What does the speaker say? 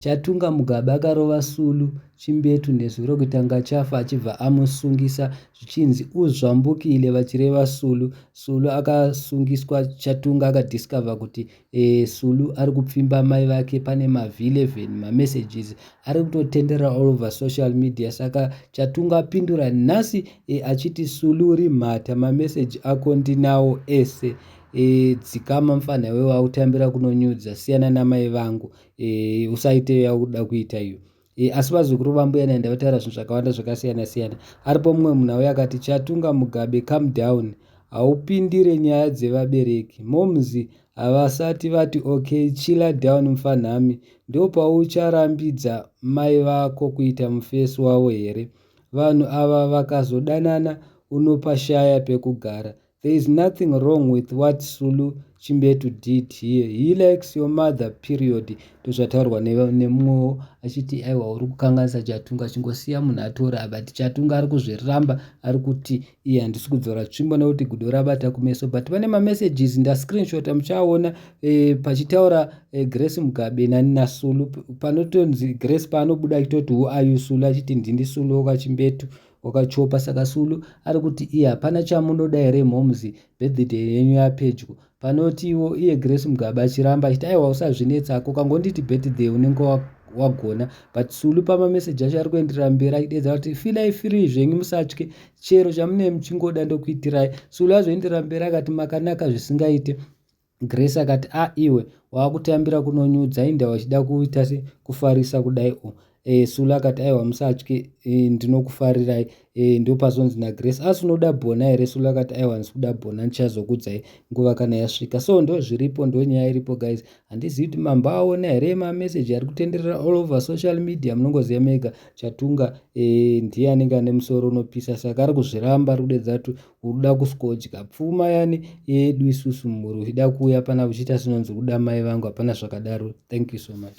Chatunga Mugabe akarova Sulu chimbetu nezwi rokuti anga achafa achibva amusungisa zvichinzi uzvambukile vachireva Sulu. Sulu akasungiswa Chatunga akadiscover kuti eh, Sulu ari kupfimba mai vake pane mav11 mamessages ari kutotenderera all over social media saka Chatunga apindura nhasi eh, achiti Sulu uri mhata mameseji ako ndinawo ese eh, dzikama mfanha iwe wakutambira kunonyudza siyana namai vangu e, usaite iyo yakuda kuita iyo e, asi vazukuru vambuya naenda vataura zvinhu zvakawanda zvakasiyana siyana aripo mumwe munhu auya akati chatunga mugabe come down haupindire nyaya dzevabereki moms havasati vati okay chilla down mfanhami ndopaucharambidza mai vako kuita mufesi wavo here vanhu ava vakazodanana unopashaya pekugara There is nothing wrong with what Sulu Chimbetu did here. He likes your mother period. Ndozvataurwa nemumwewo achiti aiwa uri kukanganisa Chatunga chingosiya munhu atora but Chatunga ari kuzviramba ari kuti iye handisi kudzora tsvimbo nekuti gudo rabata kumeso but pane mamessages ndascreenshota muchaona eh, pachitaura eh, Grace Mugabe nani naSulu panotonzi Grace paanobuda achitoti who are you Sulu achiti ndini Sulu okachimbetu okay, Wakachopa saka Sulu ari kuti iye hapana chamunoda here moms birthday yenyu yapedyo panoti iwo iye Grace Mugabe achiramba achiti aiwa usazvinetsa ako kangonditi birthday unenge wagona but Sulu pamameseji acho ari kuenderera mberi achidedza kuti filai free zvenyu musatye chero chamunei muchingoda ndokuitirai Sulu azoenderera mberi akati makanaka zvisingaite Grace akati a iwe wakutambira kunonyudza inda wachida kuita se kufarisa kudai o e, Sula akati aiwa musatye e, ndinokufarirai e, ndopazonzi na Grace asi unoda bona here Sula akati aiwa handisi kuda bona ndichazokudzai nguva kana yasvika so ndo zviripo ndo nyaya iripo guys handizivi kuti mambo aona here ma message ari kutenderera all over social media munongoziva mega chatunga e, ndiye anenge ane musoro unopisa saka ari kuzviramba ari kudedza kuti Uruda kuskodya pfuma yani yedu isusu mhuri uchida kuuya pana uchiita sinonzi uruda mai vangu hapana zvakadaro thank you so much.